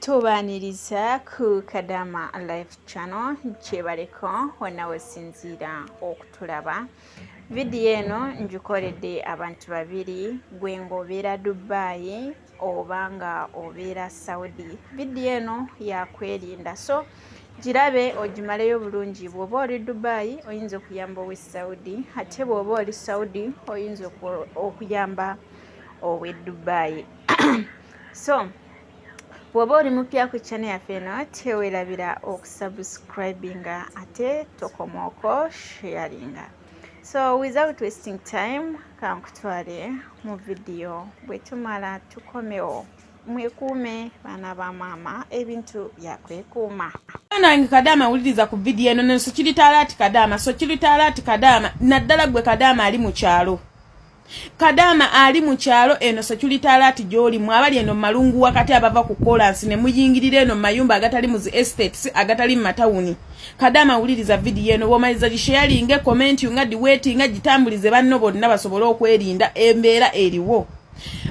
tubaniriza ku kadama live channel kyebaleko wonna wesinziira okutulaba vidiyo eno ngikoledde abantu babiri gwe ng'obeera dubai oba nga obeera saudi vidiyo eno yakwerinda so girabe ogimaleyo bulungi bw'oba oli dubai oyinza okuyamba owe saudi ate bw'oba oli saudi oyinza okuyamba owe dubai so bwoba oli mupya ku channel yaffe eno tewerabira okusubscribinga ate tokomaoko sharinga so without wasting time kankutwale mu vidiyo bwetumala tukomewo mwekuume baana ba maama ebintu byakwekuuma nange kadaama wuliriza ku vidiyo eno nenso kiritaala ati kadaama so kiritaala ati kadaama naddala gwe kadaama ali mu kyalo Kadaama ali mu kyalo eno security alert gy'oli mu abali eno malungu wakati abava ku kolansi ne muyingirira eno mu mayumba agatali mu zi estates agatali mu matawuni. Kadaama wuliriza vidiyo eno bw'omaliza gisheyalinge komenti nga diweetinga gitambulize banno bonna basobole okwerinda embeera eriwo.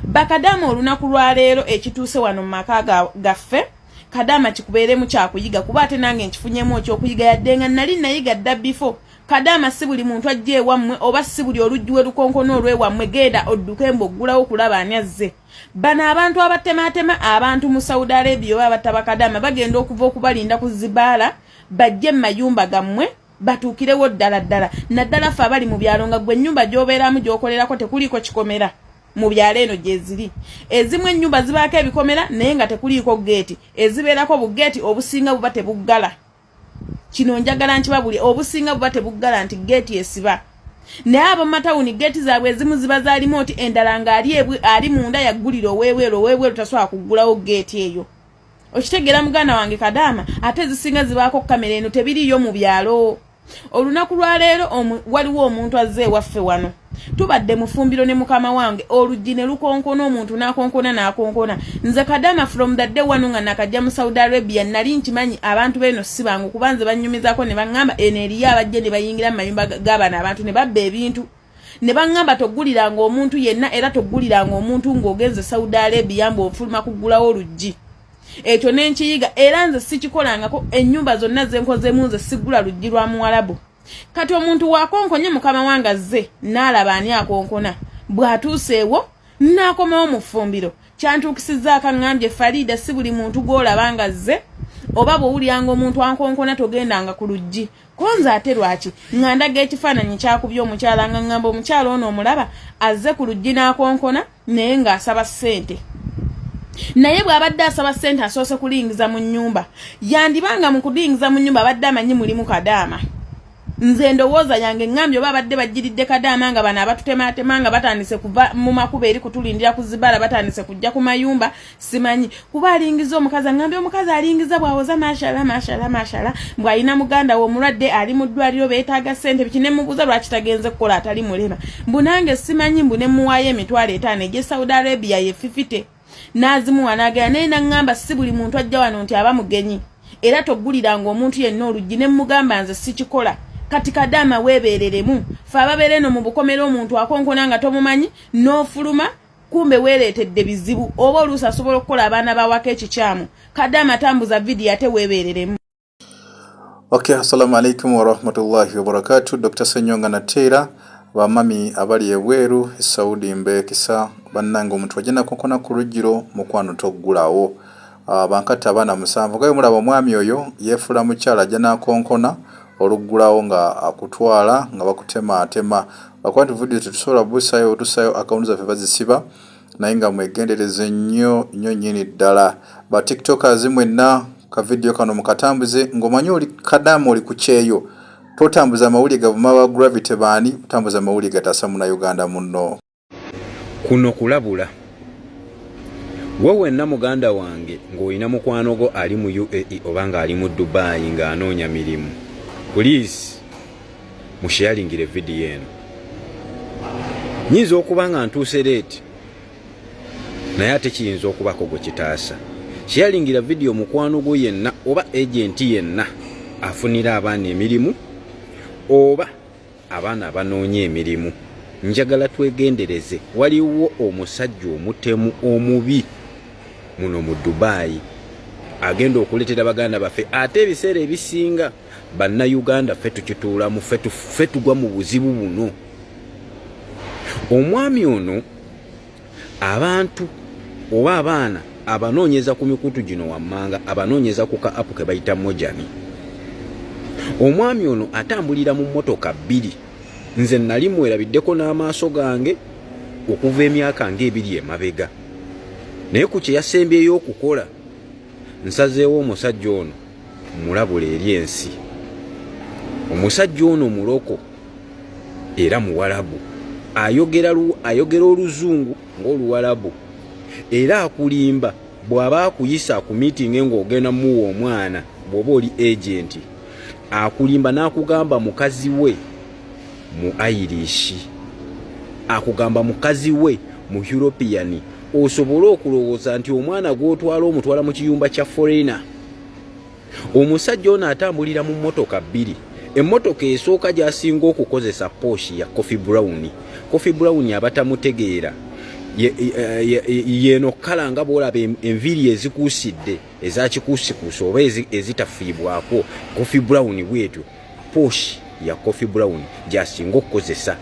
Bakadaama olunaku lwa leero ekituuse wano mu maka gaffe Kadaama kikubeeremu kyakuyiga kuba ate nange nkifunyemu okyokuyiga yadde nga nali nayiga dda before kadaama si buli muntu ajja ewammwe oba si buli oluggi we lukonkona olwewammwe genda odduke mbu oggulawo okulaba ani azze bano abantu abatemaatema abantu mu saudi arabia oba abataba kadaama bagenda okuva okubalinda ku zibaala bajje mu mayumba gammwe batuukirewo ddala ddala naddala fe abali mu byalo nga gwe ennyumba gy'obeeramu gy'okolerako tekuliiko kikomera mu byalo eno gyeziri ezimu ennyumba zibaako ebikomera naye nga tekuliiko geeti ezibeerako bugeeti obusinga buba tebuggala kino njagala nkiba buli obusinga buba tebuggala nti geeti esiba naye abamatawuni geeti zaabwe ezimu ziba zalimu oti endala ng'ali ali munda yaggulira owebweru owebweru tasobola kuggulawo geeti eyo okitegeera muganda wange kadaama ate ezisinga zibaako kamera eno tebiriiyo mu byalo olunaku lwaleero waliwo omuntu azze ewaffe wano tubadde mufumbiro ne mukama wange oluggi ne lukonkona omuntu n'akonkona n'akonkona nze kadama from the day wanu nga nakajja mu saudi arabia nali nkimanyi abantu beeno si bangu kuba nze bannyumizako ne baŋŋamba eno eriyo abajja ne bayingira mu mayumba g'abana abantu ne babba ebintu ne baŋŋamba togguliranga omuntu yenna era togguliranga omuntu ng'ogenze saudi arabia mbu ofuluma kuggulawo oluggi ekyo ne nkiyiga era nze sikikolangako ennyumba zonna ze nkozemu nze sigula luggi lwa muwalabu kati omuntu wakonkonye mukama wange azze n'alaba ani akonkona bw'atuuseewo n'akomawo mu ffumbiro kyantuukisizza akaŋŋambye fariida si buli muntu gw'olaba nga zze oba bw'owulyanga omuntu ankonkona togendanga ku luggi ko nze ate lwaki nga ndaga ekifaananyi kyakubye omukyala nga ŋŋamba omukyala ono omulaba azze ku luggi n'akonkona naye ng'asaba ssente naye bw'abadde asaba ssente asoose kulingiza mu nnyumba yandiba nga mu kulingiza mu nnyumba abadde amanyi mulimu kadaama nze endowooza yange ŋŋambye oba abadde bajjiridde kadaama nga bano abatutemaatema nga batandise kuva mu makuba eri kutulindira ku zibala batandise kujja ku mayumba simanyi kuba alingiza omukazi angambye omukazi alingiza bwawoza mashala mashala mashala mbwalina muganda we omulwadde ali mu ddwaliro beetaaga ssente biki nemubuuza lwaki tagenze kukola atali mulema mbu nange simanyi mbu nemuwaayo emitwalo etaano egye saudi arabia yefifite n'azimuwa n'agenda naye naŋŋamba si buli muntu ajja wano nti aba mugenyi era togguliranga omuntu yenna oluggi ne mmugamba nze sikikola kati kadaama weebeereremu fe ababeera eno mu bukomera omuntu akonkona nga tomumanyi n'ofuluma kumbe weereetedde bizibu oba oluusi asobola okukola abaana bawako ekikyamu kadde amatambuza vidiyo ate weebeereremu ok assalamu alaikum warahmatullahi wabarakatu dr senyonga nateera bamami abali ebweru esaudi mbeekisa bannanga omuntu ajja nakonkona ku lujjiro mukwano toggulawo Ah, bankatta abaana musanvu nga bwemulaba omwami oyo yefuula mukyala ajja nakonkona oluggulawo nga akutwala nga bakutemaatema lwakuba nti vidiyo tetusobola busayo tusayo akawunti zaffe bazisiba naye nga mwegendereze nnyo nnyo nyini ddala ba tiktokers mwenna ka vidiyo kano mukatambuze ng'omanyi oli kadaama oli ku kyeyo totambuza amawulire gavuma ba gravity baani otambuza amawulire gataasa muna uganda munno kuno kulabula gwe wenna muganda wange ng'olina mukwano gwo ali mu uae oba ng'ali mu dubai ng'anoonya mirimu puliisi musheyalingire vidiyo eno nyinza okuba nga ntuuse leeti naye ate kiyinza okubako gwe kitaasa sheyalingira vidiyo mukwano gwo yenna oba agenti yenna afunira abaana emirimu oba abaana abanoonya emirimu njagala twegendereze waliwo omusajja omutemu omubi muno mu dubayi agenda okuletera baganda baffe ate ebiseera ebisinga bannayuganda ffe tukituulamu ffe tugwa mu buzibu buno omwami ono abantu oba abaana abanoonyeza ku mikutu gino wammanga abanoonyeza ku ka apu ke bayita mojani omwami ono atambulira mu mmotoka bbiri nze nali mwerabiddeko n'amaaso gange okuva emyaka ng'ebiri emabega naye ku kye yasembyeyo okukola nsazeewo omusajja ono mulabula eri ensi omusajja ono muloko era muwalabu ayogera ayogera oluzungu ng'oluwalabu era akulimba bw'aba akuyisa ku miitingi ng'ogenda muwa omwana bw'oba oli agenti akulimba n'akugamba mukazi we mu airishi akugamba mukazi we mu european osobole okulowooza nti omwana gw'otwala omutwala mu kiyumba kya foreina omusajja ono atambulira mu mmotoka bbiri emmotoka esooka gyasinga okukozesa pooshi ya coffee brown coffee brown abatamutegeera yeno kala nga bwolaba enviiri ezikuusidde ezakikuusikuusa oba ezitafiibwako coffee brown bwetyo pooshi ya coffee brown gyasinga okukozesa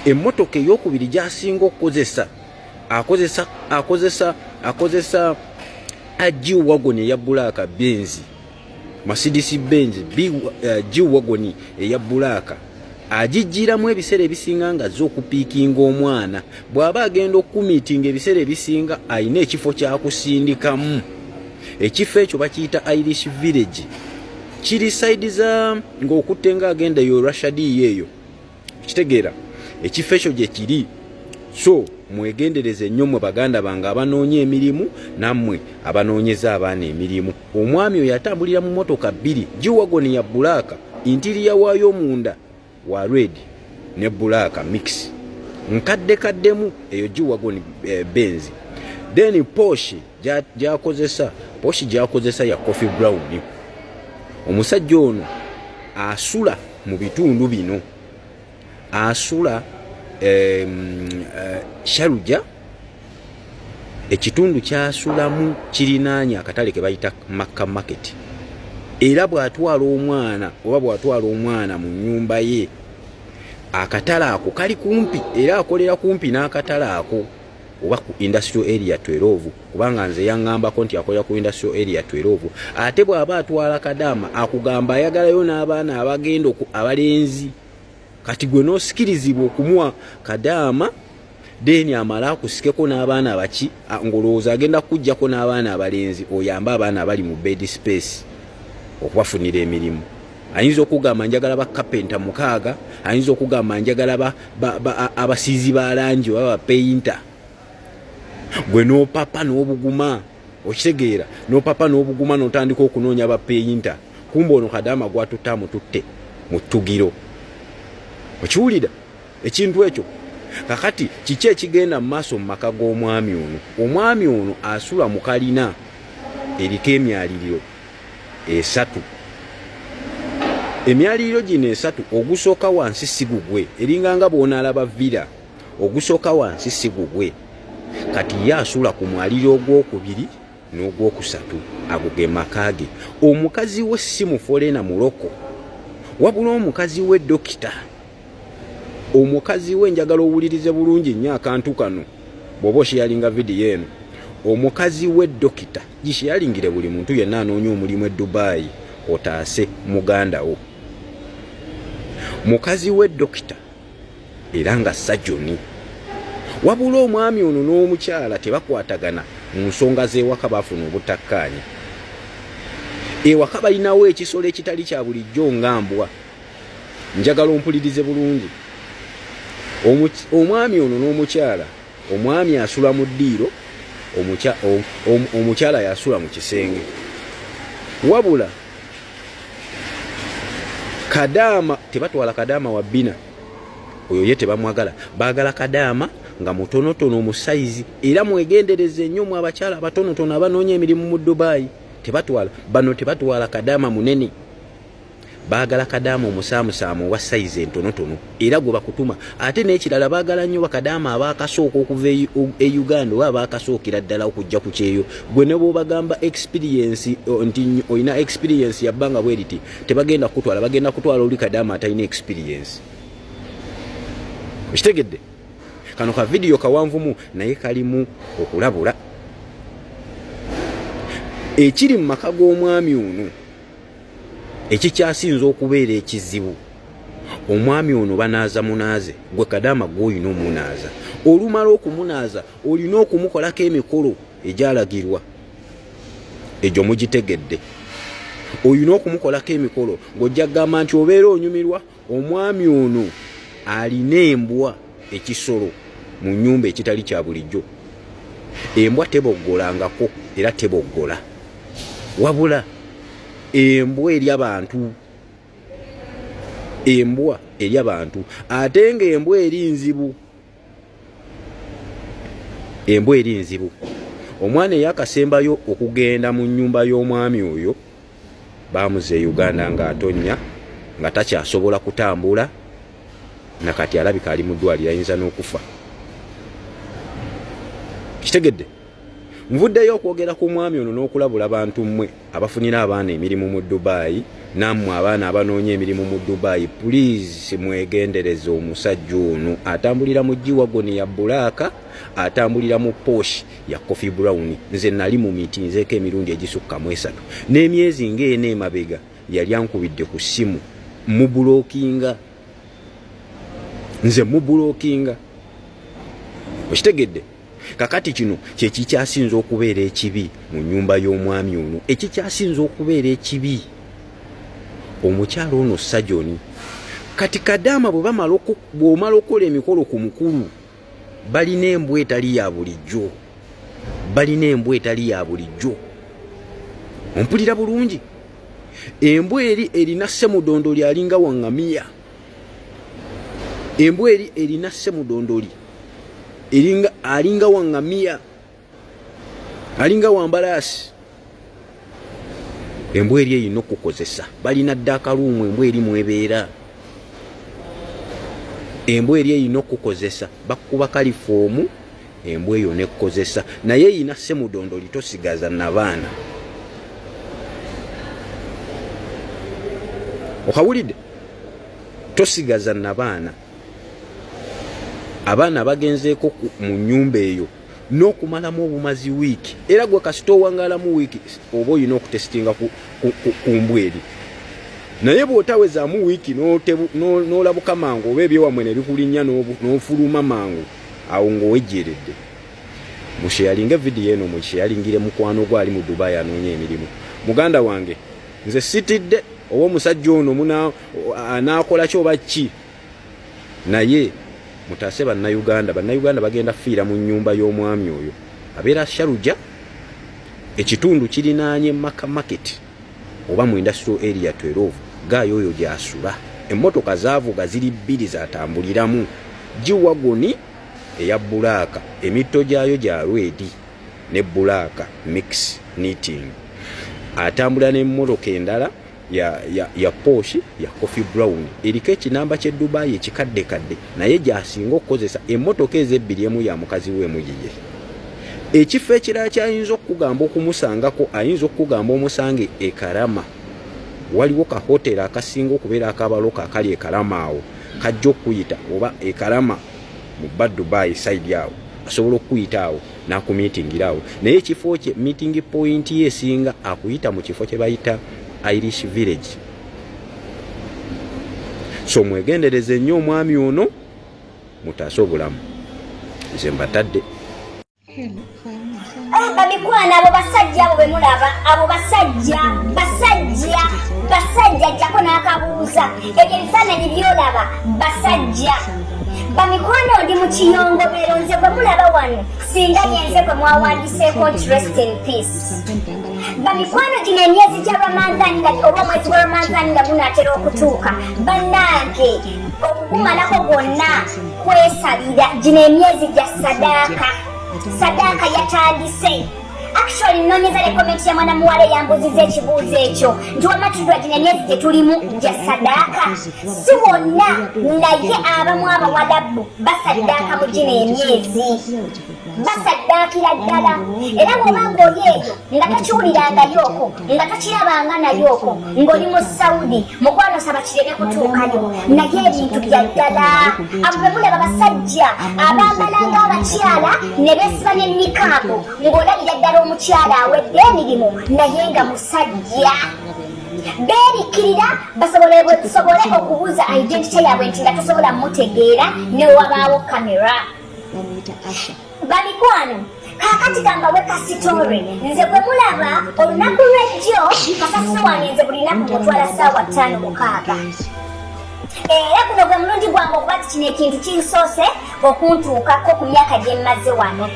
emmotoka eyokubiri gyasinga okukozesa akozesa akozesa akozesa aji wagon eya bulaaka benzi masidisi benzi eh, ji wagon eya bulaaka agijjiramu ebiseera ebisinga nga zo okupiikinga omwana bw'aba agenda okukumiitinga ebiseera ebisinga alina ekifo kyakusindikamu ekifo ekyo bakiyita irish village kiri saidi za ng'okutte nga agenda eyo rashadiyo eyo kitegeera ekifo ekyo gye kiri so mwegendereze nnyo mwe baganda bange abanoonya emirimu nammwe abanoonyeza abaana emirimu omwami oyo atambulira mu motoka bbiri giwagoni ya bulaaka intiriya waayo munda wa red ne bulaaka mix nkadde kaddemu eyo giwagoni eh, benzi then poshi gyakozesa poshi gyakozesa ya coffee brown omusajja ono asula mu bitundu bino asula eh, sharuja ekitundu kyasulamu kirinaanya akatale kebayita makka market era bwatwala omwana oba bwatwala omwana mu nyumba ye akatale ako kali kumpi era akolera kumpi n'akatale ako oba ku industrial area 12 kubanga nze yangambako nti akolera ku industrial area 12 ate bw'aba atwala kadaama akugamba ayagalayo n'abaana abagenda abalenzi kati gwe n'osikirizibwa okumuwa kadaama deni amala akusikeko n'abaana abaki ng'olowooza agenda kukuggyako n'abaana abalenzi oyambe abaana abali mu bed space okubafunira emirimu ayinza okugamba njagala ba kapenta mukaaga ayinza okugamba njagala abasiizi ba langi oba bapeyinta gwe nopapa n'obuguma okitegeera nopapa n'obuguma notandika okunoonya bapeyinta kumba ono kadaama gwatutte amututte mu ttugiro okiwulira ekintu ekyo kakati kiki ekigenda mu maaso mu maka g'omwami ono omwami ono asula mu kalina eriko emyaliriro esatu emyaliriro gino esatu ogusooka wansi si gugwe eringa nga bw'onaalaba vira ogusooka wansi si gugwe kati ye asula ku mwaliro ogwokubiri n'ogwokusatu ago ge maka ge omukazi we si mufoleena muloko wabula omukazi we dokita omukazi we njagala owulirize bulungi nnyo akantu kano bw'oba osheyalinga vidiyo eno omukazi we dokita Gisheyalingire buli muntu yenna anoonya omulimu e Dubai otaase muganda wo. Mukazi we dokita era nga sajoni. Wabula omwami ono n'omukyala tebakwatagana mu nsonga z'ewaka baafuna obutakkaanya. Ewaka balinawo ekisolo ekitali kya bulijjo nga mbwa. Njagala ompulirize bulungi. Omwami ono n'omukyala Omwami asula mu ddiiro, omukyala yasula mu kisenge. Wabula kadaama tebatwala kadaama wa bbina oyo ye tebamwagala, baagala kadaama nga mutonotono omusayizi. Era mwegendereze nnyo mu abakyala abatonotono abanoonya emirimu mu Dubai, tebatwala bano, tebatwala kadaama munene. baagala kadaama omusaamusaamu owa sayizi entonotono era gwe bakutuma ate n'ekirala baagala nnyo bakadaama abaakasooka okuva e, e uganda oba abaakasookera ddala okujja ku kyeyo gwe ne bwobagamba experiensi nti olina experiensi yabbanga bwe riti tebagenda kukutwala bagenda kutwala oli kadaama atalina experiensi okitegedde kano ka vidiyo kawanvumu naye kalimu okulabula ekiri mu maka g'omwami ono ekikyasinza okubeera ekizibu omwami ono banaaza munaaze gwe kadaama gwe olina omunaaza olumala okumunaaza olina okumukolako emikolo egyalagirwa egyo mugitegedde olina okumukolako emikolo ng'ojja kugamba nti obeera onyumirwa Omwami ono alina embwa ekisolo mu nyumba ekitali kya bulijjo. Embwa teboggolangako era teboggola. Wabula embwa eri abantu embwa eri abantu ate nga embwa eri nzibu embwa eri nzibu omwana eyakasembayo okugenda mu nyumba y'omwami oyo bamuze e uganda nga atonya nga takyasobola kutambula nakati alabika ali mudwaliro ayinza n'okufa kitegedde nvuddeyo okwogera ku mwami ono n'okulabula bantu mmwe abafunira abaana emirimu mu dubayi nammwe abaana abanoonya emirimu mu dubayi pulizi mwegendereze omusajja ono atambulira mu giwagoni ya bulaaka atambulira mu posh ya coffee brown nze nali mu miti nzeeko emirundi egisukka mu esatu n'emyezi ng'ena emabega yali ankubidde ku ssimu mubulokinga nze mubulokinga okitegedde kakati kino kyekikyasinza okubeera ekibi mu nyumba y'omwami ono ekikyasinza okubeera ekibi omukyalo ono sajoni kati kadaama bwebamala okukola emikolo ku mukulu balina embwa etali ya bulijjo balina embwa etali ya bulijjo ompulira bulungi embwa eri erina semudondo lyalinga wangamiya embwa eri erina semudondoli eringa alinga wangamiya alinga wambalaasi embwa eri erina okukozesa balina dda akaluumu embwa eri mwebeera embwa eri erina okukozesa bakuba kalifoomu embwa eyo nekozesa naye yina semudondo litosigaza nabaana okawulidde tosigaza nabaana abaana bagenzeeko mu nyumba eyo n'okumalamu obumazi wiiki era gwe kasita owangalamu wiiki oba olina okutesitinga ku mbwa eri naye bw'otawezaamu wiiki n'olabuka mangu oba ebyewamwe ne bikulinnya n'ofuluma mangu awo ng'owejjeeredde musheyalinge vidiyo eno mukyeyalingire mukwano gwo ali mu dubai anoonya emirimu muganda wange nze sitidde oba omusajja ono anaakola ki oba ki naye mutaase bannayuganda bannayuganda bagenda fiira mu nyumba y'omwami oyo abeera sharuja ekitundu kirinaanye maka maketi oba mu industrial area 12 gaayo oyo gyasula emmotoka zaavuga ziri bbiri zatambuliramu giwagoni eya bbulaaka emitto gyayo gya lwedi ne bbulaaka mix knitting atambula n'emmotoka endala ya, ya, ya poshi ya coffee brown eriko ekinamba kye dubai ekikaddekadde naye gyasinga okukozesa emmotoka ezo ebbiri emu ya mukazi we emu yiye ekifo ekirala kyayinza okukugamba okumusangako ayinza okukugamba omusange ekarama waliwo ka hoteri akasinga okubeera akabaloka akali ekarama awo kajja okukuyita oba ekarama mu ba dubai saidi awo asobola okukuyita awo nakumitingira awo naye ekifo kye meeting point ye esinga akuyita mu kifo kye bayita irish village so mwegendereze nnyo omwami ono mutaase obulamu nze mbatadde babikwana abo basajja abo bemulaba abo basajja basajja basajja jjako n'akabuuza ebyo ebifaananyi byolaba basajja bamikwano ndi mu kiyongobero nze bwe mulaba wano singa yenze bwe mwawandiseeko nti rest in peace bamikwano gino emyezi gya ramanzani nga oba omwezi gwa ramanzani nga gunatera okutuuka bannange okugumalako gwonna kwesalira gino emyezi gya sadaaka sadaaka yatandise actually nonyeza ne comment ya mwana muwala eyambuziza ekibuuzo ekyo nti wamma tudwa gino emyezi gye tulimu gya sadaaka si wonna naye abamu abawalabu basaddaaka mu gino emyezi basaddaakira ddala era bwoba ng'oli eyo nga tokiwulirangayooko nga tokirabanga nayooko ng'oli mu saudi mukwano saba kireme kutuukayo naye ebintu bya ddala abo be mulaba basajja abambala ng'abakyala ne beesiba ne nikaabu ng'olabira ddala omukyala awedde emirimu naye nga musajja beerikkirira basobole okubuuza identity yaabwe nti nga tosobola mutegeera newabaawo kamera bamuyita asha bamikwano kakati kambawe kasitore nze bwe mulaba olunaku lwejjo kasasiro wange nze buli naku mutwala saawa ttaano mukaaga era guno gwe mulundi gwange okuba ti kino ekintu kinsoose okuntuukako ku myaka gye mmaze wano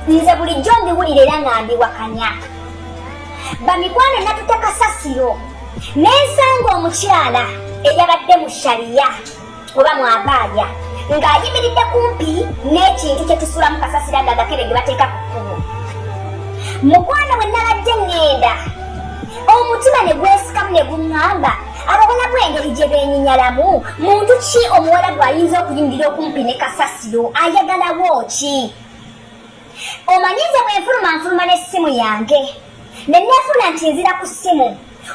nze bulijjo mbiwulira era nga mbiwakanya bamikwano natuta kasasiro nensanga omukyala eyabadde mu shariya oba mwavaaya ng'ayimiridde kumpi n'ekintu kye tusulamu kasasira nga agakebe ge bateeka ku kkubo mukwano bwe nabadde ŋŋenda omutima ne gwesikamu ne guŋŋamba abawala bw'engeri gye beenyinyalamu muntu ki omuwala gw'ayinza okuyimirira okumpi ne kasasiro ayagalawo ki omanyi nze bwe nfuluma nfuluma n'essimu yange ne neefuna nti nzira ku ssimu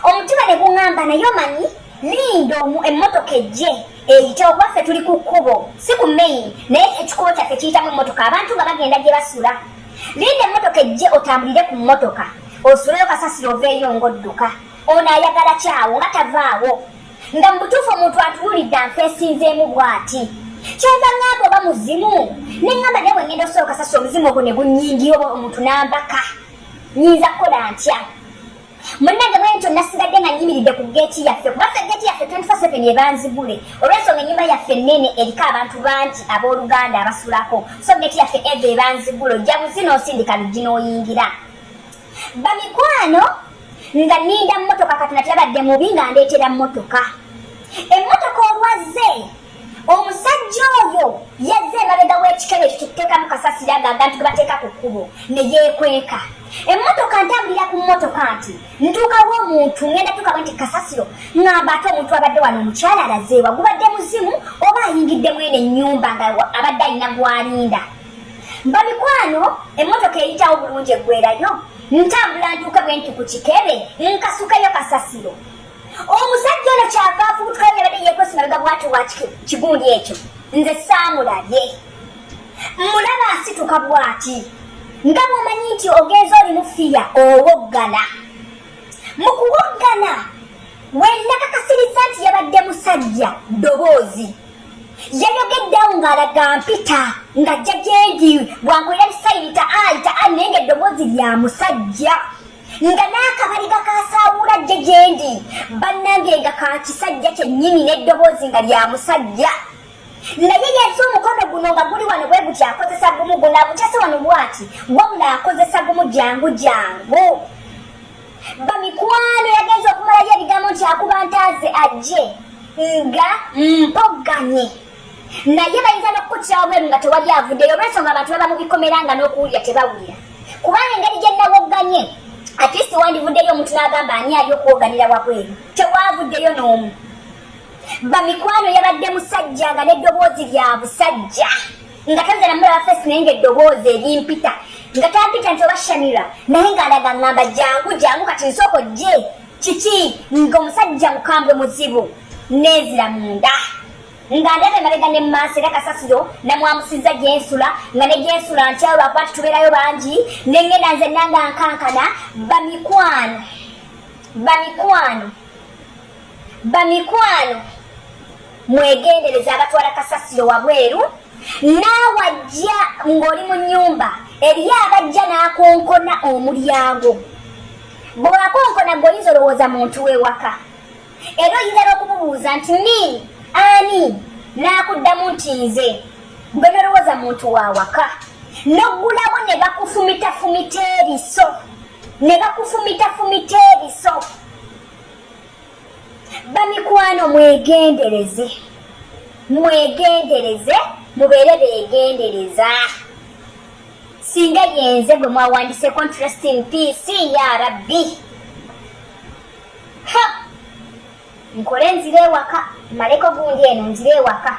omutima ne guŋŋamba naye omanyi linda omu emmotoka ejje eyite okuba ffe tuli ku kkubo si ku main naye ekikubo kyaffe kiyitamu emmotoka abantu nga bagenda gye basula linda emmotoka ejje otambulire ku mmotoka osuleyo kasasiro oveeyo ng'odduka ono ayagala kyawo nga tavaawo nga mu butuufu omuntu atuwulidde anfeesinzeemu bw'ati kyeva ŋŋamba oba muzimu ne ŋŋamba naye bwe ŋŋenda osooka sasa omuzimu ogwo ne gunnyingira oba omuntu n'ambaka nyinza kukola ntya munnange bwe ntyo nasigadde nga nyimiridde ku geeti yaffe kuba ffe geeti yaffe 24 ebanzigule olwensonga ennyumba yaffe nnene eriko abantu bangi abooluganda abasulako so geeti yaffe eva ebanzigule ojja buzina osindika luggi n'oyingira bamikwano nga ninda mmotoka katonda teyabadde mubi nga ndeetera mmotoka emmotoka olwazze omusajja oyo yazze emabega w'ekikebe ekyo kyetuteekamu kasasira nga abantu ge bateeka ku kkubo ne yeekweka emmotoka ntambulira ku mmotoka nti ntuukawo omuntu ngenda tuukawo nti kasasiro ngamba ate omuntu abadde wano omukyala alazeewa gubadde muzimu oba ayingidde mwene ennyumba nga abadde alina gwalinda bamikwano emmotoka eyitawo bulungi eggwerayo ntambula ntuuke bwe nti ku kikebe nkasukeyo kasasiro omusajja ono kyava afubutukayo yabadde yekwesi mabega bwati wa kigundi ekyo nze saamulabye mulaba asituka bwati nga bwomanyi nti ogenza oli mufiya owoggana mu kuwoggana wenakakasirizza nti yabadde musajja ddoboozi yayogedde awo ng'alaga mpita ng'ajja gyendi bwankolera bisayiri ta ali ta ali naye ng'eddoboozi lya musajja nga n'akabaliga kasaawula jje gyendi bannange nga ka kisajja kyennyini n'eddoboozi nga lya musajja naye yesu omukono guno nga guli wano bwe guti akozesa gumu guno agukyase wano bwati wabula akozesa gumu jangu jangu bamikwano yagenza okumalayo ebigambo nti akuba ntaaze ajje nga mm. mpogganye naye bayinza n'okukutira wabweru nga tewali avuddeyo olwensonga abantu baba mu bikomera nga n'okuwulira tebawulira kubanga engeri gye nawogganye atist wandivuddeyo omuntu n'agamba ani ali okwoganira wabweru tewavuddeyo n'omu bamikwano yabadde musajja nga n'eddoboozi lya busajja nga tanzana mulaba fesi naye nga eddoboozi erimpita nga tampita nti oba shamira naye nga alaga ngamba jangu jangu kati nsooko gye kiki nga omusajja mukambwe muzibu nezira munda nga ndaba emabega ne maaso era kasasiro namwamusizza gyensula nga ne gyensula ntyawo lwakuba titubeerayo bangi nengenda nze nanga nkankana bamikwano bamikwano bamikwano mwegendereza abatwala kasasiro wabweru naawe ajja ng'oli mu nnyumba eriyo abajja n'akonkona omulyango bw'akonkona gwe oyinza olowooza muntu w'ewaka era oyinza n'okumubuuza nti ni ani n'akuddamu nti nze gwe nolowooza muntu wa waka n'oggulawo ne bakufumitafumita ebiso ne bakufumitafumita ebiso bamikwano mwegendereze mwegendereze mubeere begendereza singa yenze gwe mwawandise contrast in pc ya rabbi ha nkole nzire ewaka maleko gundi eno nzire ewaka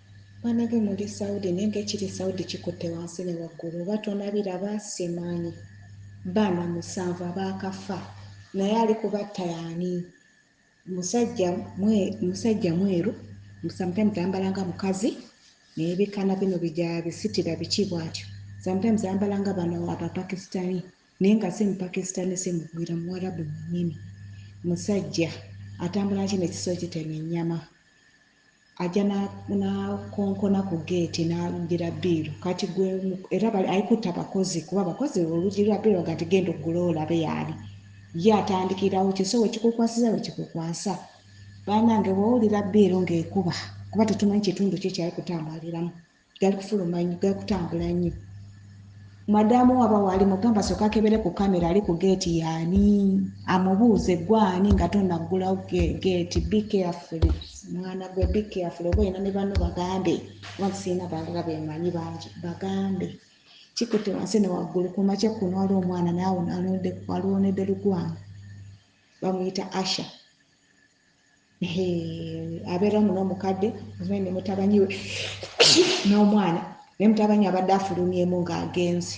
Banage muli Saudi naye ngekiri Saudi kikutte wansi ne waggulu oba tonabiraba simanyi. Baana musanvu abaakafa naye ali kubatta yaani? Musajja mwe musajja mweru sometimes ayambala nga mukazi naye bikana bino bija bisitira biki bwatyo sometimes ayambala nga bano abapakistani naye nga si mupakistani si mugwira muwarabu mwenyini musajja atambula ki nekiso kitema ennyama ajja n'akonkona ku ggeeti n'alumbira bbiiru kati gwe era ayikutte abakozi kuba abakozi oluggi lwa bbiiru baga nti genda oggule olabe yaali ye atandikirawo kyo so wekikukwasiza wekikukwasa banange wowulira bbiiru ng'ekuba kuba tetumanyi kitundu ki kyali kutambaaliramu gali kufuluma nnyo gali kutambula nnyo madamu waba wali mugamba soka kebere ku kamera ali ku geeti yaani amubuuze gwani nga tonaggulawo geeti be careful mwana gwe be careful oba olina ne banno bagambe oba nsiina balala bemanyi bangi bagambe kikute wansi ne waggulu ku makya kuno wali omwana naawe alwonedde lugwana bamuyita asha abeera omu n'omukadde ozimai ne mutabani we n'omwana naye mutabani abadde afulumyemu ng'agenzi